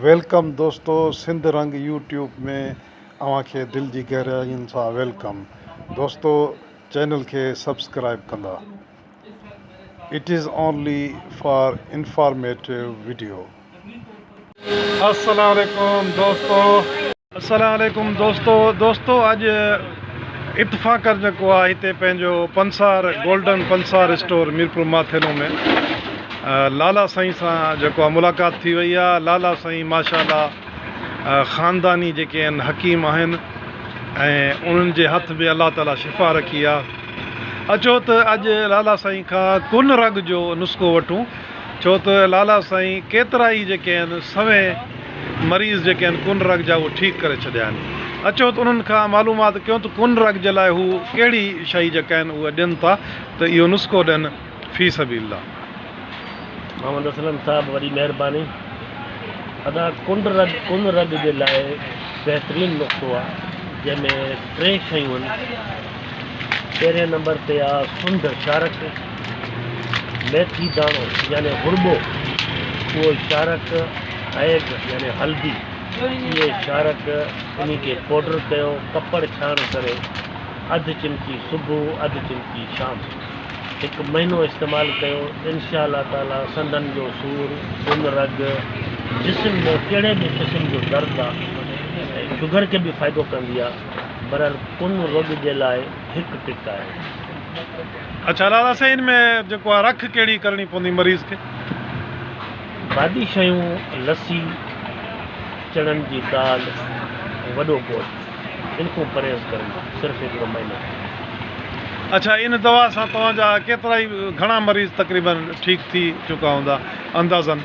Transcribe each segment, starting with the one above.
Welcome دوستو Sindh Rang YouTube ۾ اوهان کي دل جي گهراين سان ويلڪم دوستو چينل کي سبسڪرائب ڪندا it is only for informative video. السلام عليڪم دوستو. السلام عليڪم دوستو دوستو اڄ اتفاقن جيڪو آ هتي پنهنجو پنسار گولڊن پنسار اسٽور ميرپور ماٿيلو ۾ لالا سائين سان جيڪو ملاقات ٿي وئي آ لالا سائين ماشاءالله خانداني جيڪي ان حڪيم آهن ۽ انهن جي هٿ به الله تعالي شفا رکي آ اچو ته اڄ لالا سائين کان ڪن رڳ جو نسخو وٺون ڇو ته لالا سائين ڪيترا ئي جيڪي آهن سوين مريض جيڪي آهن ڪن رگ جا اهي ٺيڪ ڪري ڇڏيا آهن. اچو ته انهن کان معلومات ڪيون ته ڪن رگ جي لاء هو ڪهڙي شئي جيڪا آهن اهي ڏين ٿا ته اهو نسخو ڏين في سبيل الله. محمد اسلم صاحب وڏي مهرباني ادا ڪن رگ ڪن رگ جي لاء بهترين نسخو آ جنهن ۾ ٽي شيون آهن پهرين نمبر تي آ سنڍ شارڪ. ميٿي داڻو يعني غربو، اهو شارڪ، هيگ يعني هلدي، اهي شارڪ، انهي کي پوڊر ڪيو، ڪپڙ ڇاڻ ڪري، اڌ چمچي صبح اڌ چمچي شام، هڪ مهينو استعمال ڪيو، انشاء الله تعالي سنڌن جو سور، سن رڳ، جسم ۾ ڪهڙي به قسم جو درد آ ۽ شگر کي به فائدو ڪندي آ، برحال ڪن رڳ جي لاء هڪ ٽڪ آهي. اڇا لالا سائين ان ۾ جيڪو آ رک ڪهڙي ڪرڻي پوندي مريض کي. بادي شيون لسي چڻن جي دال ۽ وڏو گوشت ان کون پرهيز ڪرڻ صرف هڪڙو مهينو ڪرڻ. اڇا ان دوا سان توهان جا ڪيترائي گهڻا مريض تقريبن ٺيڪ ٿي چڪا هوندا اندازن.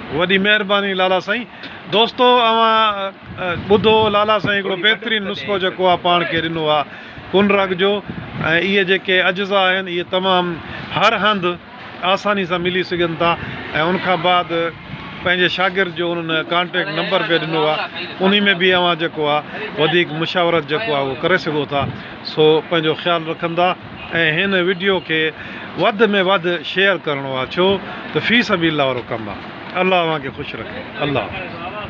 وڏي مهرباني لالا سائين. دوستو اوهان ٻڌو لالا سائين هڪڙو بهترين نسخو جيڪو آ پاڻ کي ڏنو آ ڪن رڳ جو ۽ اهي جيڪي اجزا آهن اهي تمام هر هنڌ آساني سان ملي سگهن ٿا ۽ ان کان بعد پنهنجي شاگرد جو انهن ڪانٽيڪٽ نمبر به ڏنو آ انهي ۾ به اوهان جيڪو آ وڌيڪ مشاورت جيڪو آ اهو ڪري سگهو ٿا سو پنهنجو خيال رکندا. ۽ هن وڊيو کي وڌ ۾ وڌ شيئر ڪرڻو آ ڇو ته في سبيل الله وارو ڪم آ الله اوهان کي خوش رکي الله حافظ.